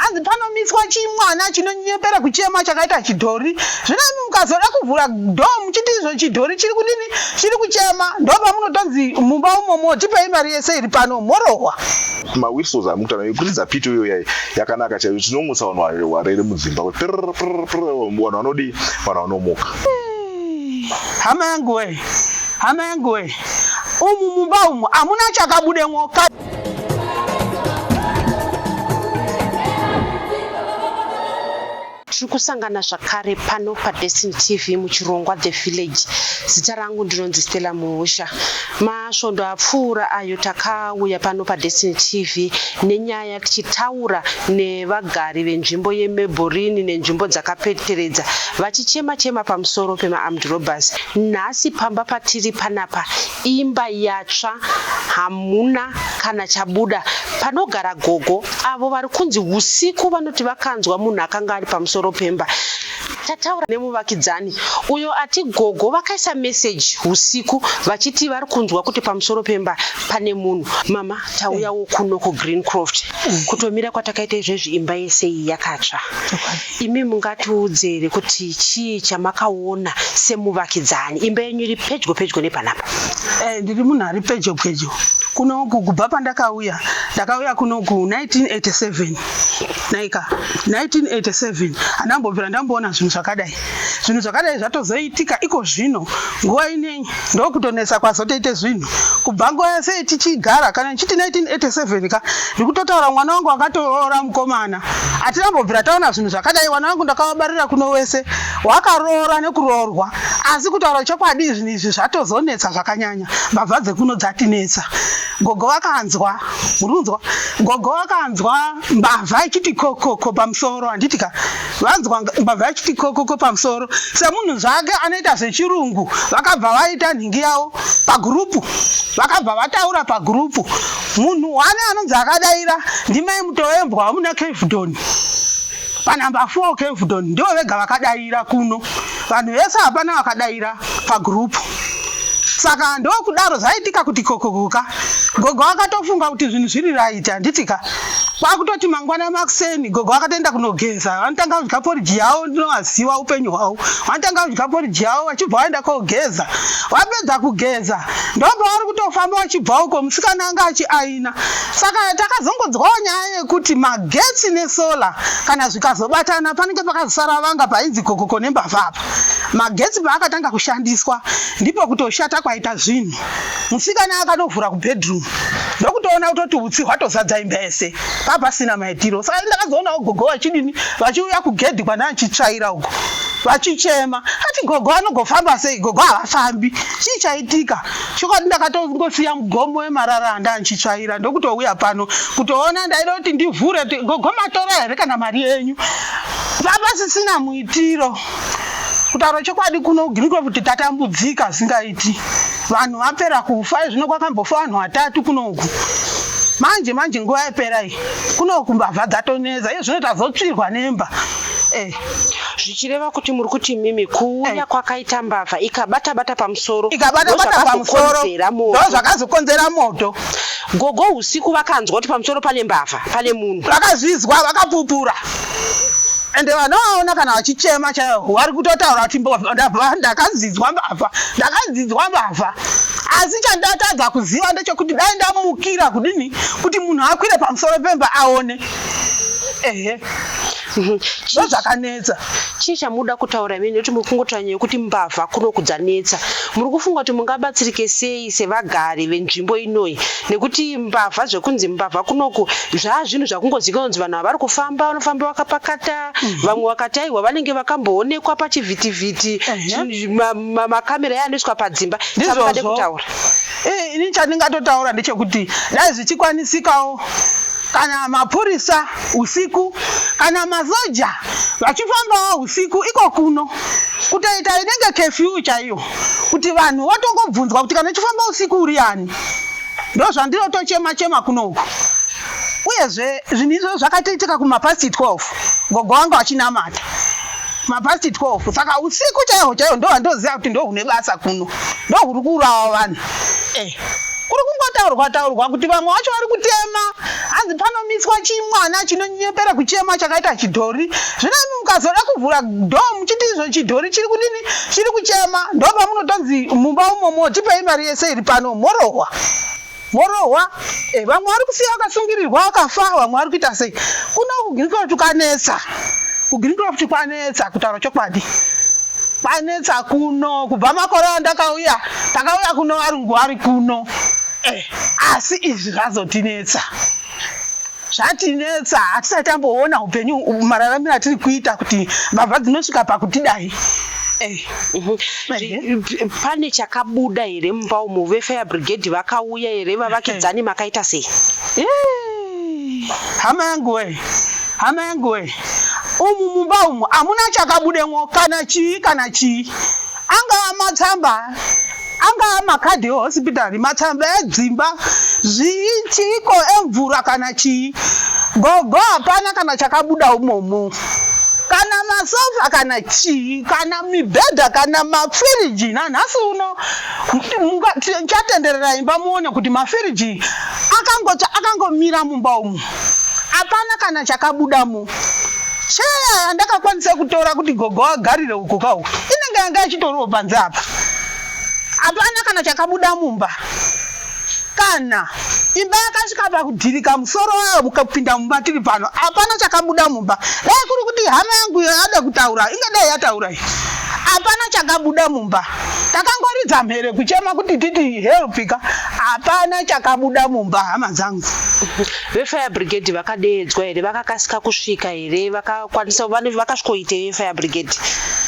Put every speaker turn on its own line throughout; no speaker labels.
hanzi panomitswa chimwana chinonyepera kuchema chakaita chidhori zvino imi mukazoda kuvhura do muchiti izvo chidhori chiri kudini chiri kuchema ndopamunotonzi mumba umomo tipei mari yese iri pano morohwa mawhisos
amukutana yekuridza pito iyo yai yakanaka chaiyo tinomutsa vanhu warere mudzimba vanhu vanodii vanhu vanomuka
hama yangu wee hama yangu wee umu mumba umu hamuna chakabudemwo
tiri kusangana zvakare pano padestiny tv muchirongwa the village zita rangu ndinonzi stella muhusha masvondo apfuura ayo takauya pano padestiny tv nenyaya tichitaura nevagari venzvimbo yemeborini nenzvimbo dzakapeteredza vachichema chema pamusoro pemaarmed robbers nhasi pamba patiri panapa Imba yatsva hamuna kana chabuda panogara gogo avo vari kunzi usiku vanoti vakanzwa munhu akanga ari pamusoro pemba tataura nemuvakidzani uyo ati gogo vakaisa meseji usiku vachiti vari kunzwa kuti pamusoro pemba pane munhu mama tauyawo kuno kugreen croft kutomira kwatakaita izvezvi imba yese iyi yakatsva Imi mungatiudze here kuti chii chamakaona semuvakidzani imba yenyu iri pedyo pedyo nepanapa? Eh, ndiri munhu
ari pedyo pedyo kunoku kubva pandakauya ndakauya kunoku 1987 naika 1987 handambobvira ndamboona zvinhu zvakadai zvinhu zvakadai zvatozoitika iko zvino nguva inei ndokutonetsa kwazotoite zvinhu kubva nguva yese tichigara kana ndichiti 1987 ka ndikutotaura mwana wangu akatoroora mukomana hatirambobvira taona zvinhu zvakadai wana wangu ndakavabarira kuno wese wakaroora nekuroorwa asi kutaura chokwadi zvinhu izvi zvatozonetsa zvakanyanya mbavha dzekuno dzatinetsa gogo vakanzwa murikunzwa gogo vakanzwa mbavha ichiti kokoko pamusoro handiti ka vanzwa mbavha yachiti kokoko pamusoro semunhu zvake anoita zvechirungu vakabva vaita nhingi yavo pagurupu vakabva vataura pagurupu munhu wani anonzi akadaira ndimai mutovembwa wamuna kevdon panhamba 4 kevdon ndivo vega vakadaira kuno vanhu vese hapana vakadaira pagroup saka ndokudaro zvaitika kuti kokokoka gogo akatofunga kuti zvinhu zviri right handitika kwakutoti mangwana makuseni gogo akatoenda kunogeza vanotanga kudya poriji yavo ndinovaziva upenyu hwavo vanotanga kudya poriji yavo vachibva vaenda kogeza vapedza kugeza ndopavari kutofamba vachibva uko musikana anga achiai pasina. Saka takazongonzwawo nyaya yekuti magetsi nesolar kana zvikazobatana panenge pakazosara vanga painzi kokoko nembavha apa. Magetsi paakatanga kushandiswa ndipo kutoshata kwaita zvinhu. Musikana akatovhura kubedroom ndokutoona kutoti utsi hwatozadza imba yese papasina maitiro. Saka ndakazoonawo gogo vachidini vachiuya kugedhi kwandaa chitsvaira uko vachichema ati gogo anogofamba sei gogo havafambi chii chaitika chokwadi ndakatongosiya mugomo wemarara anga anchitsvaira ndokutouya pano kutoona ndaida kuti ndivhure kuti gogo matora here kana mari yenyu vapasisina muitiro kutaura chokwadi kuno griko kuti tatambudzika zingaiti vanhu vapera kufa zvino kwakambofa vanhu vatatu kunoku manje manje nguva yapera iyi kunoku mbavha dzatoneza iye zvino tazotsvirwa nemba eh.
zvichireva kuti muri kuti mimi kuuya kwakaita mbavha ikabata bata pamusoro ikabata bata pamusoro
ndozvakazokonzera moto gogo
usiku vakanzwa kuti pamusoro pane mbavha pane munhu vakazvizwa
vakapupura ende vanovaona kana vachichema chaivo vari kutotaura kuti ndakanzinzwa mbavha ndakanzinzwa mbavha asi chandatadza kuziva ndechekuti dai ndamukira kudini kuti munhu akwire pamusoro pemba aone ehe mhm. ndo dzakanetsa chii chamuda
kutaura imene nekuti muri kungotaura nyaya yekuti mbavha kuno kudzanetsa muri kufunga kuti mungabatsirike sei sevagari venzvimbo inoyi nekuti mbavha zvekunzi mbavha kunoku zvaa zvinhu zvakungoziva kunonzi vanhu havari kufamba vanofamba vakapakata mhm. vamwe vakati aiwa vanenge vakamboonekwa pachivhitivhiti makamera yaanoiswa padzimba chaade kutaura eh, ini
chandingatotaura ndechekuti dai zvichikwanisikawo kana mapurisa usiku kana masoja vachifambawo usiku iko kuno kutoita inenge kefyu chaiyo kuti vanhu vatongobvunzwa kuti kana uchifamba usiku uri ani ndo zvandinotochema chema kunoku uyezve zvinhu izvo zvakatoitika kumapasti 12 gogo wangu achinamata mapasti 12 saka usiku chaiho chaiho ndo vandoziva kuti ndo hune basa kuno ndo huri kuurawa vanhu eh. kuri kungotaurwa taurwa kuti vamwe vacho vari kutema hanzi panomitswa chimwana chinonyepera kuchema chakaita chidhori zvino imi mukazoda kuvhura do muchiti izvo chidhori chiri kudini chiri kuchema ndopamunotonzi mumba umomo tipei mari yese iri pano morohwa morohwa eh, vamwe vari kusiya vakasungirirwa vakafa vamwe vari kuita sei kuno kugirikoti tukanetsa kugreen crop kwanetsa kutaura chokwadi kwanetsa kuno kubva makore andakauya takauya kuno varungu vari kuno eh, asi izvi zvazotinetsa zvatinetsa hatisati tamboona upenyu mararamiro atiri kuita kuti mbavha dzinosvika pakutidai eh. mhm.
eh. pane chakabuda here mumba umu vefire brigade vakauya here vavakidzani makaita sei
hama yangu wee Hama yangu we, umu mumba umu amuna chakabudemwo kana chii kana chii, angaa matsamba angaa makadhi ehospitari, matsamba edzimba, zvii chiiko emvura kana chii, gogo hapana kana chakabuda umomo kana masofa kana chii kana mibhedha kana mafiriji nanhasi uno chatenderera imba muone kuti mafiriji akangomira mumba umu Hapana kana chakabudamo. Cheya yandakakwanisa kutora kuti gogo agarire uko kawo inenge yanga yachitoriwo panze apa. Hapana kana chakabuda mumba. Kana imba yakasvika pakudhirika musoro wayo mukapinda mumba tiri pano. Hapana chakabuda mumba. Dai kuri kuti hama yangu yada kutaura ingadai yataura iyi. Hapana chakabuda mumba. takangoridza mhere kuchema kuti titi helpika hapana chakabuda mumba hama dzangu vefire
brigade vakadeedzwa here vakakasika kusvika here vakakwanisa vakasvikoite vefire brigade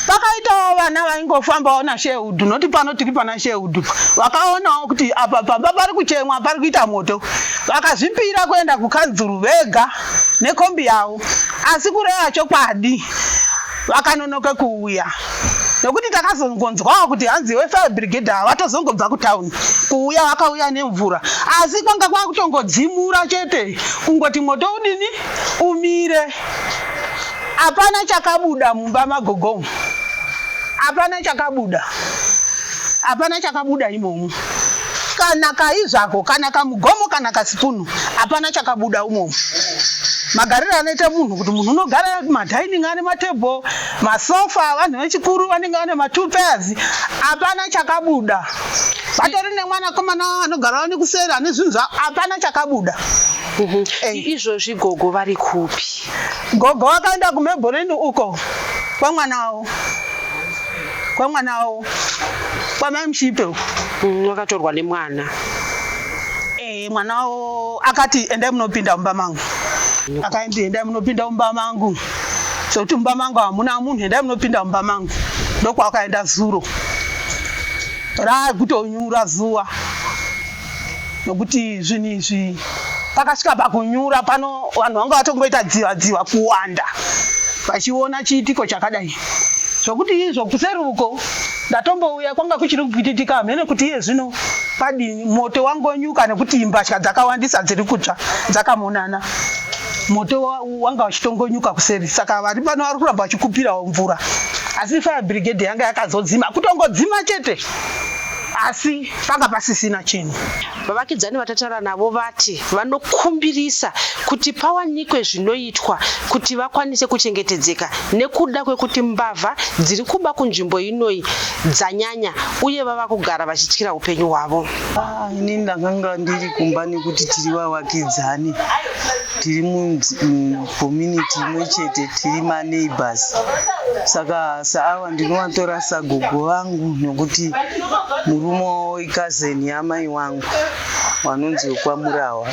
vakaitawo
vana vaingofambawo nashehudhu noti pano tiri pana shehudhu vakaonawo kuti apa pamba pari kuchemwa pari kuita moto vakazvipira kuenda kukanzuru vega nekombi yavo asi kureva chokwadi vakanonoka kuuya nokuti takazongonzwawo kuti hanzi wefire brigade ava vatozongobva kutown kuuya vakauya nemvura asi kwanga kwakutongodzimura chete kungoti moto udini umire hapana chakabuda mumba magogomu hapana chakabuda hapana chakabuda imomo kana kaizvako kana kamugomo kana kasipunu hapana chakabuda umomo magariro anoita munhu kuti munhu unogara madining ane matable masofa vanhu vechikuru vanenge vane matwo pairs hapana chakabuda vatori nemwana komana anogara vane kuseri ane zvinhu zva hapana chakabuda mhm.
izvozvi gogo vari kupi gogo
vakaenda kumebholeni uko kwamwana wavo kwamwana wavo kwamai mushipe uko mm, wakatorwa
nemwana
Eh, mwana wavo akati endai munopinda mumba mangu akaendi endai munopinda mumba mangu sokuti mumba mangu hamuna munhu endai munopinda mumba mangu ndokwakaenda zuro raakutonyura zuva nokuti zvinhu izvi pakasvika pakunyura pano vanhu vanga vatongoita dziva dziva kuwanda vachiona chiitiko chakadai zvokuti izvo kuseri uko Ndatombouya kwanga kuchiri kupwititika hamheno kuti iye zvino padini. Moto wangonyuka nekuti mbatya dzakawandisa dziri kutsva dzakamonana. Moto wanga uchitongonyuka kuseri saka vari pano vari kuramba vachikupirawo mvura. Asi fire brigade yanga yakazodzima kutongodzima chete asi panga pasisina chinhu. Vavakidzani
vatatara navo vati vanokumbirisa kuti pawanikwe zvinoitwa kuti vakwanise kuchengetedzeka nekuda kwekuti mbavha dziri kuba kunzvimbo inoyi dzanyanya uye vava kugara vachityira upenyu hwavo. Ah, ini
ndakanga ndiri kumba nekuti tiri vavakidzani tiri mucommunity imwe chete tiri maneighbors saka saava ndinovatorasa gogo vangu nokuti murume wavo ikazeni yamai wangu wanonzi wekwamurawa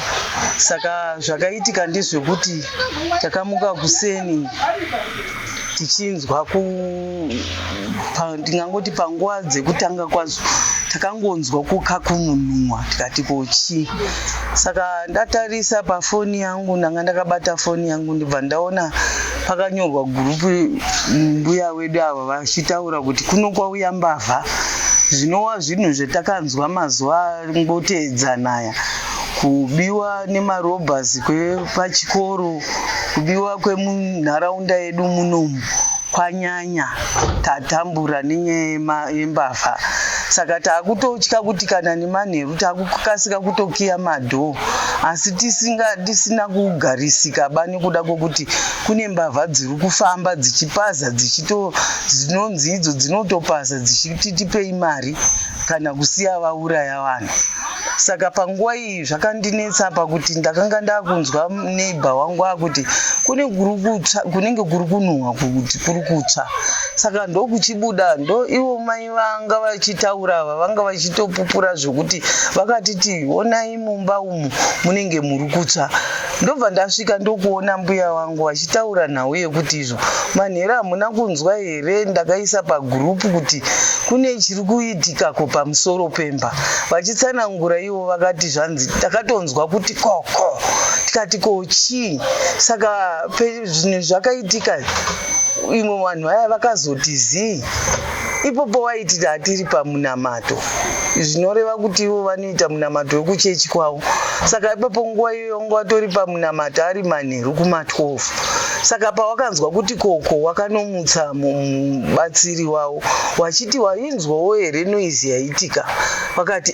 saka zvakaitika ndezvekuti takamuka kuseni tichinzwa ku ndingangoti panguva dzekutanga kwazo takangonzwa kukakununua tikati kochii saka ndatarisa pafoni yangu ndanga ndakabata foni yangu ndibva ndaona pakanyorwa gurupu mbuya wedu ava vachitaura kuti kuno kwauya mbavha zvinova zvinhu zvatakanzwa mazuva ngoteedzanaya kubiwa nemarobhers kwepachikoro kubiwa kwemunharaunda yedu munomu kwanyanya tatambura nenyaya yembavha saka taakutotya kuti kana nemanheru Takukasika kutokiya madhoo asi tisinga tisina kugarisika ba nekuda kwokuti kune mbavha dziri kufamba dzichipaza dzichito dzinonzi idzo dzinotopaza dzichiti tipei mari kana kusiya vauraya vanhu saka panguva iyi zvakandinetsa pakuti ndakanga ndakunzwa neighbor wangu akuti kune kuri kutsva kunenge kuri kunhuhwa kuti kuri kutsva saka ndokuchibuda ndo ivo mai vanga vachitaura ava vanga vachitopupura zvekuti vakatiti onai mumba umu munenge muri kutsva ndobva ndasvika ndokuona mbuya wangu vachitaura nhau yekuti izvo manhero hamuna kunzwa here ndakaisa pagurupu kuti kune chiri kuitika ko pamusoro pemba vachitsanangura ivo vakati zvanzi takatonzwa kuti koko tikati ko chii saka zvinhu zvakaitika imwe vanhu vaya vakazoti zii ipopo waiti tatiri pamunamato zvinoreva kuti ivo vanoita munamato wekuchechi kwavo saka ipapo nguva iyoyo wanga watori pamunamato ari manheru kuma12 saka pawakanzwa kuti koko wakanomutsa mubatsiri wavo wachiti wainzwawo here noizi yaitika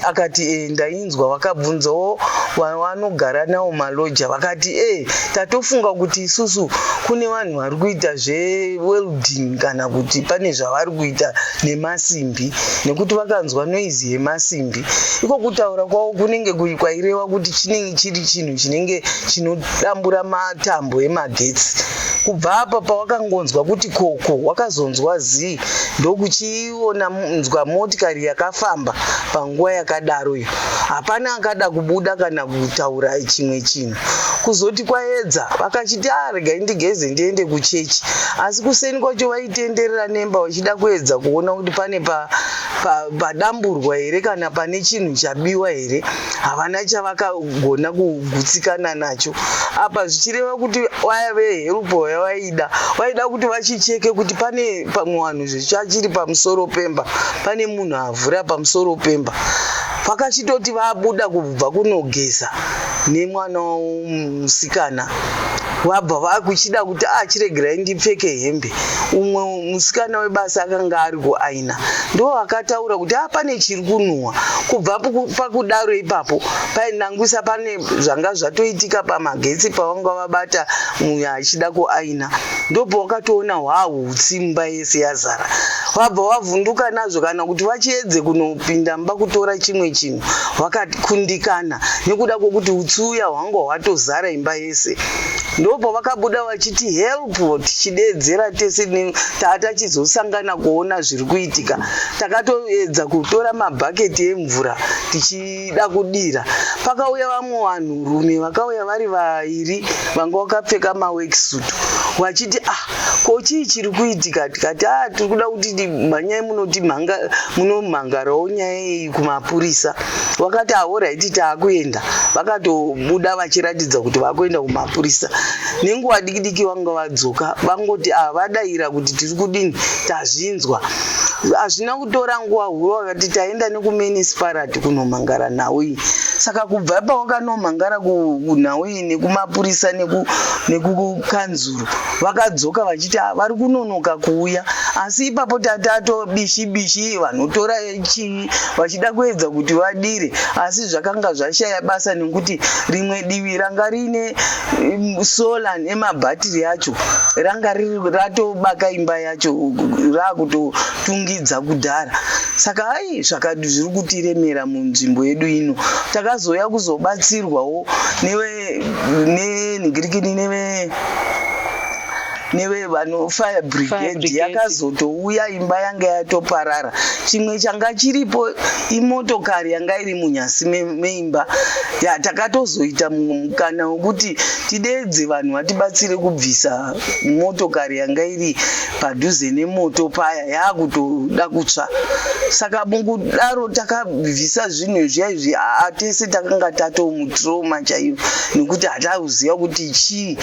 akati enda Ndakabvunzwa vakabvunzawo vanogara nawo maloja vakati e eh, tatofunga kuti isusu kune vanhu vari kuita zvewelding kana kuti pane zvavari kuita nemasimbi nekuti vakanzwa noizi yemasimbi iko kutaura kwavo kunenge kwaireva kuti chinenge chiri chinhu chinenge chinodambura matambo emagetsi kubva apa pawakangonzwa kuti koko wakazonzwa zii ndokuchi Iona munzwa motikari yakafamba panguva yakadaro iyo hapana akada kubuda kana kutaura chimwe chinhu kuzoti kwaedza vakachiti arega ah, indigeze ndiende kuchechi asi kuseni kwacho vaitenderera nemba vachida kuedza kuona kuti pane padamburwa pa, pa here kana pane chinhu chabiwa here havana chavakagona kugutsikana nacho apa zvichireva kuti vaya veherupo yavaida vaida kuti vachicheke kuti pane pamwe wanhu zvichachiri pamusoro pemba pane munhu avhura pamusoro pemba vakachitoti vabuda kubva kunogeza nemwana musikana vabva vakuchida kuti achiregerai ah, ndipfeke hembe umwe musikana webasa akanga ari kuaina ndo akataura kuti ah, pane chiri kunhuhwa kubva pakudaro ipapo painangwisa pane zvanga zvatoitika pamagetsi pavanga akabata muya achida kuaina ndopo wakatoona hwahutsi mumba yese yazara wabva wavhunduka nazvo kana kuti vachiedze kunopinda mumba kutora chimwe chinhu wakakundikana nekuda kwokuti utsi uya hwanga hwatozara imba yese ndopo vakabuda vachiti help tichideedzera tese taatachizosangana kuona zviri kuitika takatoedza kutora mabhaketi emvura tichi vaida kudira pakauya vamwe vanhu rume vakauya vari vairi vanga vakapfeka maworksuit vachiti ah ko chii chiri kuitika tikati a ah, tiri kuda kuti mhanyai munoti munomhangarawo nyaya yeyi kumapurisa vakati ahoraiti ah, taakuenda vakatobuda vachiratidza kuti vakuenda kumapurisa nenguva dikidiki vanga vadzoka vangoti ah, vadaira kuti tiri kudini tazvinzwa hazvina kutora nguva hurova But taenda nekumenisparati kunomhangara nhau iyi saka kubva pawakanomhangara kunhau iyi nekumapurisa nekukanzuru vakadzoka vachiti ah, vari kunonoka kuuya asi ipapo tatato bishi bishi vanotora chii vachida kuedza kuti vadire asi zvakanga zvashaya basa nekuti rimwe divi ranga riine mm, sola nemabhatiri acho ranga riri ratobaka imba ya racho raakutotungidza kudhara saka hai zvakadi zviri kutiremera munzvimbo yedu ino takazouya kuzobatsirwawo nenhigirikini neve nevevano fire brigade yakazotouya imba yanga yatoparara chimwe changa chiripo imotokari yanga iri munyasi meimba ya takatozoita mukana wekuti tideedze vanhu vatibatsire kubvisa motokari yanga iri padhuze nemoto paya yaakutoda kutsva saka mukudaro takabvisa zvinhu zviya izvi aa tese takanga tatomutroma chaiyo nekuti hatakuziva kuti chii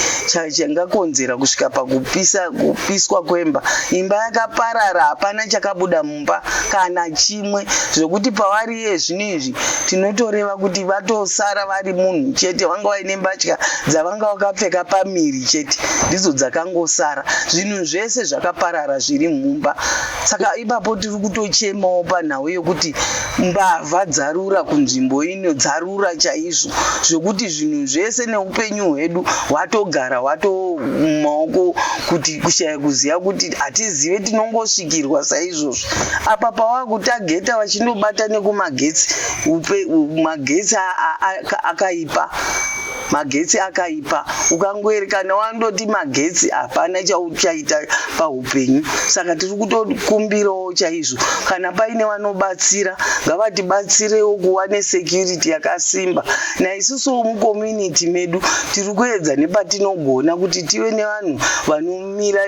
changakonzera kusvika pakupisa kupiswa kwemba imba yakaparara hapana chakabuda mumba kana chimwe zvekuti pavari iye zvino izvi tinotoreva kuti vatosara vari munhu chete vanga vaine mbatya dzavanga vakapfeka pamiri chete ndidzo dzakangosara zvinhu zvese zvakaparara zviri mumba saka ipapo tiri kutochemawo panhau yekuti mbavha dzarura kunzvimbo ino dzaru hwakakura chaizvo zvekuti zvinhu zvese neupenyu hwedu hwatogara hwato mumaoko kuti kushaya kuziva kuti hatizive tinongosvikirwa saizvozvo apa pawakutageta vachindobata nekumagetsi magetsi akaipa aka, aka magetsi akaipa ukangoerekana wandoti magetsi hapana chauchaita paupenyu saka tiri kutokumbirawo chaizvo kana paine vanobatsira ngavatibatsirewo kuva nesecurity yakasimba naisusuwo mucommunity medu tiri kuedza nepatinogona kuti tive nevanhu vano mira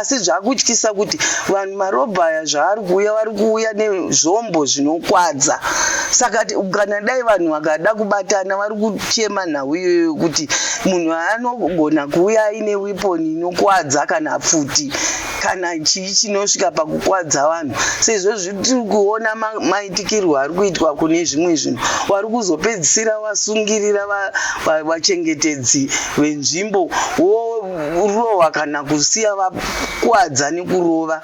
asi zvakutyisa kuti vanhu marobha aya zvaari kuuya vari kuuya nezvombo zvinokwadza saka kana dai vanhu vakada kubatana vari kuchema nhau iyoyo kuti munhu anogona kuuya aine weponi inokwadza kana pfuti kana chii chinosvika pakukwadza vanhu sezvo zvitiri kuona maitikirwo ari kuitwa kune zvimwe zvinhu wari kuzopedzisira wasungirira vachengetedzi venzvimbo wo kurohwa kana kusiya vakwadza nekurova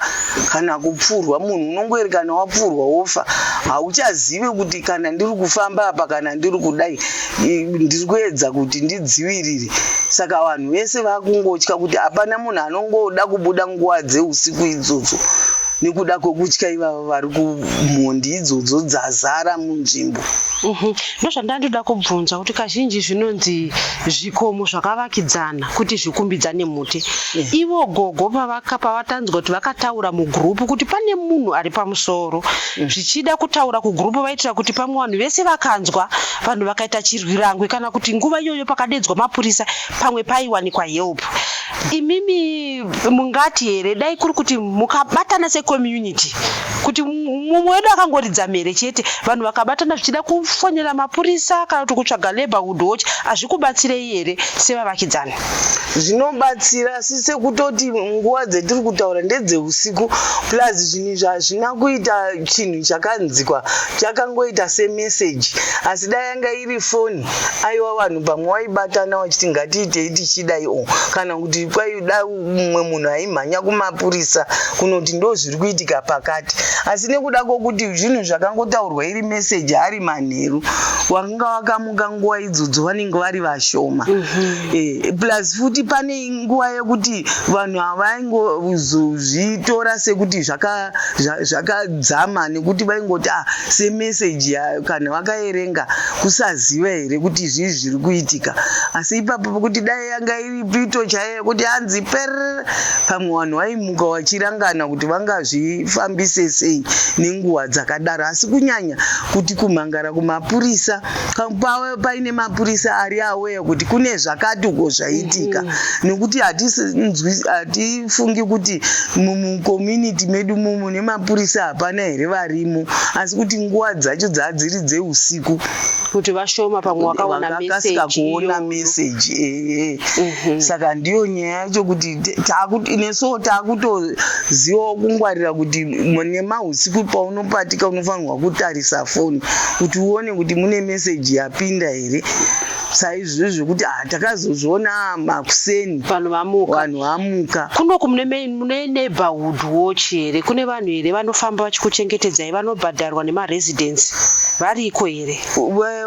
kana kupfurwa munhu unongori kana wapfurwa wofa hauchazive kuti kana ndiri kufamba apa kana ndiri kudai ndiri kuedza kuti ndidzivirire saka vanhu vese vakungotya kuti hapana munhu anongoda kubuda nguva dzeusiku idzodzo nekuda kwekutya ivavo vari kumhondi idzodzo dzazara munzvimbo mhm.
Ndozvandandida kubvunza kuti kazhinji zvinonzi zvikomo zvakavakidzana kuti zvikumbidzane muti. Yeah. Ivo gogo pavaka pavatanzwa kuti vakataura mugroup kuti pane munhu ari pamusoro. Mm. Zvichida kutaura kugroup vaitira kuti pamwe vanhu vese vakanzwa vanhu vakaita chirwirangwe kana kuti nguva iyoyo pakadedzwa mapurisa pamwe paiwanikwa help. imimi mungati here dai kuri kuti mukabatana secommunity kuti mumwe wedu akangoridza mhere chete vanhu vakabatana zvichida kufonera mapurisa kana kuti kutsvaga laborhood watch hazvikubatsirei here sevavakidzani zvinobatsira
asi sekutoti nguva dzetiri kutaura ndedzeusiku plus zvinhu izvi hazvina kuita chinhu chakanzikwa chakangoita semeseji asi dai yanga iri foni aiwa vanhu pamwe waibatana wachiti ngatiitei tichidai o kana kuti kwaida mumwe munhu aimhanya kumapurisa kunoti ndo zviri kuitika pakati asi nekuda kwokuti zvinhu zvakangotaurwa iri meseji ari manheru wakanga wakamuka nguva idzodzo vanenge vari vashoma mhm. eh, plus futi pane nguva yekuti vanhu havaingozozvitora sekuti zvakadzama nekuti vaingoti ah, semeseji yayo kana vakaerenga kusaziva here kuti izvii zviri kuitika asi ipapo pokuti dai yanga iri pito chaiyo yekuti hanzi per pamwe vanhu vaimuka vachirangana kuti vangazvifambise sei nenguva dzakadaro asi kunyanya kuti kumhangara kumapurisa pave paine mapurisa ari aweya kuti kune zvakati uko zvaitika mm-hmm. nekuti hatifungi kuti mumucommunity medu mumu mune mapurisa hapana here varimo asi kuti nguva dzacho dzadziri dzeusiku kuti vashoma
pamwe wakaonakasika
kuona meseji ee mhm. saka ndiyo nyaya yacho kuti nesuwo taakutozivawo kungwarira kuti nemausiku paunopatika unofanirwa kutarisa foni kuti uone kuti mune meseji yapinda here saizvizvi zvekuti ah, takazozviona ah, makuseni vanhu
vamuka
kunoku mune
mune neighborhood watch here kune vanhu here vanofamba vachikuchengetedzai vanobhadharwa nemaresidence variko here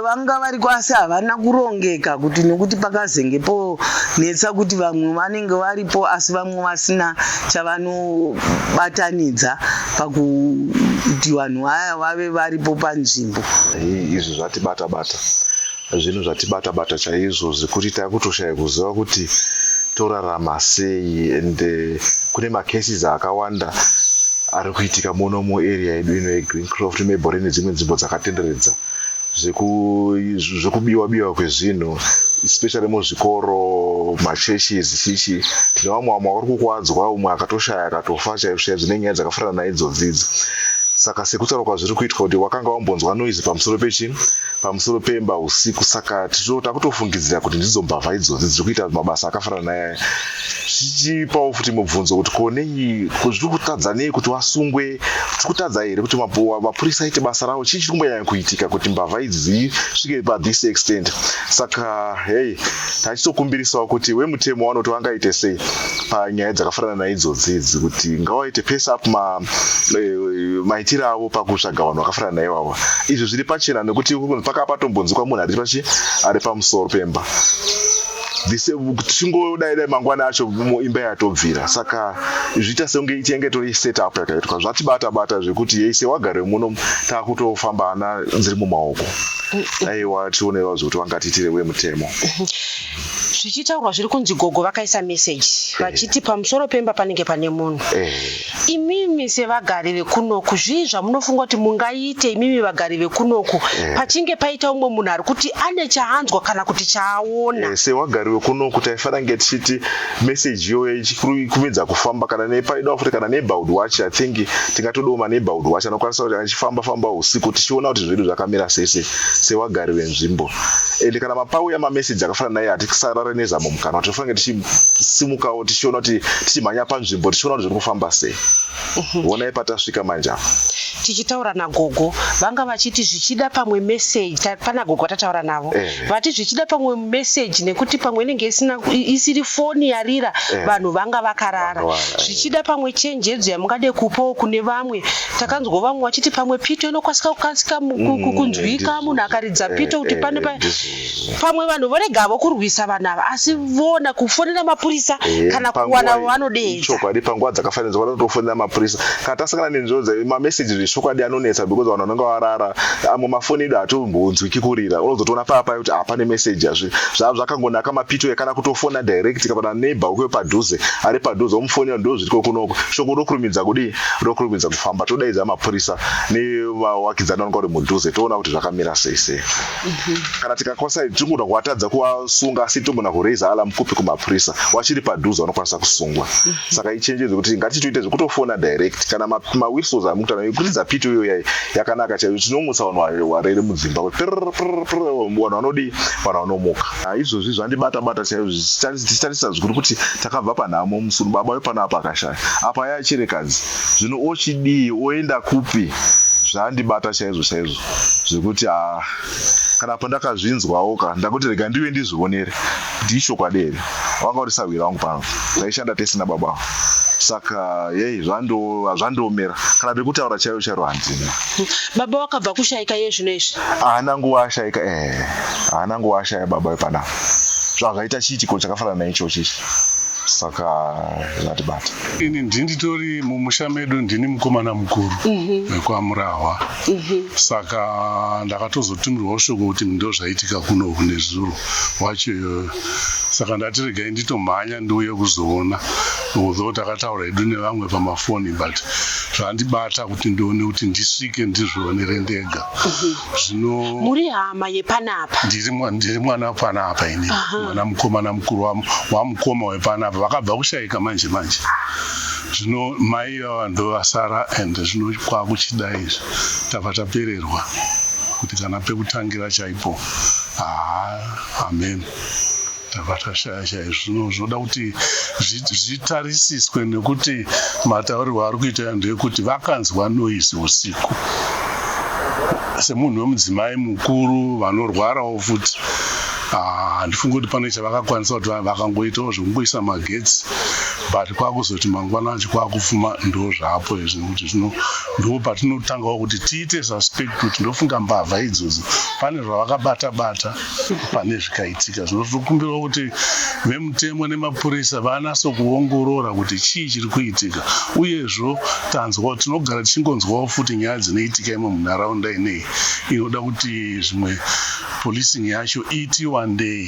vanga variko
asi havana kurongeka kuti nokuti pakazenge ponetsa kuti vamwe vanenge varipo asi vamwe vasina chavanobatanidza pakuti vanhu vaya vave varipo panzvimbo izvi
zvatibata bata Zvinhu zvatibata bata chaizvo zvekuti takutoshaya kuziva kuti torarama sei and eh, kune macases akawanda ari kuitika muno muarea yedu ino yegreencroft mebore nedzimwe nzvimbo dzakatenderedza zvekubiwa biwa kwezvinhu especially muzvikoro machurches chichi tine vamwe vamwe vari kukwadzwa umwe akatoshaya akatofa chaizvoshaya dzine nyaya dzakafanana naidzodzidzi saka sekutaura kwazviri kuitwa kuti wakanga wambonzwa noise pamusoro pechii pamusoro pemba usiku saka takutofungidzira kuti ndidzo mbavha idzodzi dziri kuita mabasa akafanana nayaya zvichipawo futi mubvunzo kuti ko nei zviri kutadza nei kuti vasungwe tiri kutadza here kuti mapurisa aite basa ravo chii chiri kumbonyanya kuitika kuti mbavha idzi dzisvike pathis extent saka hei tachitokumbirisawo kuti wemutemo vanoti vangaite sei panyaya dzakafanana naidzodzi idzi kuti ngawaite pese up ma eh, maitiro avo pakutsvaga vanhu vakafanana naye vavo izvi zviri pachena nekuti paka patombonzikwa munhu ari pachi ari pamusoro pemba tichingodaidai mangwana acho imba yatobvira saka zviita senge ichenge tori set up yakaitwa zvatibata bata zvekuti yeise wagare muno takutofamba ana nziri mumaoko aiwa tionewa zvekuti vangatiitire wemutemo
zvichitaurwa zviri kunzi gogo vakaisa message vachiti pamusoro pemba panenge pane munhu eh. Imimi sevagari vekunoku zvii zvamunofunga kuti mungaite imimi vagari vekunoku eh. pachinge paita umwe munhu ari kuti ane chaanzwa kana kuti chaaona? Eh, sevagari vekunoku
taifana nge tichiti meseji iyoyo ichikumidza kufamba kana nepaidawo futi kana neighborhood watch i think tingatodawo maneighborhood watch anokwanisa kuti anechifamba famba usiku tichiona kuti zvedu zvakamira sese sevagari venzvimbo and kana mapauya mameseji akafanana naye hatisarare nezamo mukanwa tinofanira tichi simukawo tichiona kuti tichimhanya panzvimbo tichiona kuti zviri kufamba sei mhm. vonai patasvika manje apa tichitaura
nagogo vanga vachiti zvichida pamwe meseji pana gogo atataura navo eh. vati zvichida pamwe meseji nekuti pamwe inenge isina isiri foni yarira eh. vanhu vanga vakarara eh. zvichida pamwe chenjedzo yamungade kupawo kune vamwe takanzwa vamwe vachiti pamwe pito inokwanisa kukasika mm, kunzwika munhu akaridza pito kuti pane pamwe vanhu voregavo kurwisa vanhu ava asi vona kufonera mapurisa eh, kana kuwana vanodeechokwadi panguva dzakafanirwa
vanotofonera mapurisa kana tasangana nenzvimbo dza mameseji zvechokwadi anonetsa because vanhu vanenge varara amwe mafoni edu hatombonzwiki kurira unozotoona paya paya kuti hapane meseji azvi zvava zvakangonaka mapito ekana kutofona direct kapana neighbor wekuyo padhuze ari padhuze omufonera ndo zviriko kunoko shoko rokurumidza kudii rokurumidza kufamba todaidza mapurisa nevawakidzani vanonga uri mudhuze toona kuti zvakamira sei sei kana tikakwasa ichi tinogona kuvatadza kuvasunga asi tinogona kureiza alarm kupi kumapurisa wachiri padhuze vanokwanisa kusungwa saka ichenjedzo yekuti ngatichitoita zvekutofona direct kana mawhisos amukutana yekuridza pito iyo yai yakanaka chaiyo tinomutsa vanhu varere mudzimba kuti prr, prr, prr, vanhu vanodii vanhu vanomuka Ah, izvozvi zvandibata bata chaiyo zvichitarisa zvikuru kuti takabva panhamo musuru baba wepano apa akashaya apa yaachirekadzi zvino ochidii oenda kupi zvandibata chaizvo chaizvo zvekuti haa ah, kana pandakazvinzwawo ka ndakuti rega ndiuye ndizvionere kuti ishokwadi here wanga uri sahwira wangu pano taishanda tese nababa avo saka yei hazvandiomera kana pekutaura chaiyo chairo handina baba wakabva
kushaika iye zvino izvi haana nguva ashaika
e eh, haana nguva ashaya baba wepanapa zvazvaita chiitiko chakafanana naichochi ichi saka zvatibata ini ndinditori
mumusha medu ndini mukomana mukuru mhm. wekwamurahwa mm -hmm. mm -hmm. saka ndakatozotumirwawo shoko kuti ndozvaitika kuno kunezuro wacho iyoyo saka ndati regai nditomhanya ndiuye kuzoona although takataura hedu nevamwe pamafoni but zvandibata kuti ndione kuti ndisvike ndizvionere ndega mhm. zvino muri hama
yepanapa ndiri mwana
wepanapa ini mwana mukomana mukuru wamukoma wepanapa vakabva kushaika manje manje zvino mai Iva vanhu vasara and zvino kwakuchida izvi tabva tapererwa kuti kana pekutangira chaipo haa amen tabva tashaya chaizvo zvino zvinoda kuti zvitarisiswe nekuti mataurirwo ari kuita vanhu ekuti vakanzwa noise usiku semunhu wemudzimai mukuru vanorwarawo futi ah, handifungi kuti pane chavakakwanisa kuti vakangoitawo zvekungoisa magetsi but kwakuzoti mangwana acho kwakufuma ndo zvapo izvi nekuti zvino ndo patinotangawo kuti tiite suspect kuti ndofunga mbavha idzodzo pane zvavakabata bata pane zvikaitika zvino tinokumbirawo kuti vemutemo nemapurisa vanase kuongorora kuti chii chiri kuitika uyezvo tanzwa tinogara tichingonzwawo futi nyaya dzinoitika imwe munharaunda inei inoda kuti zvimwe policing yacho iti wandei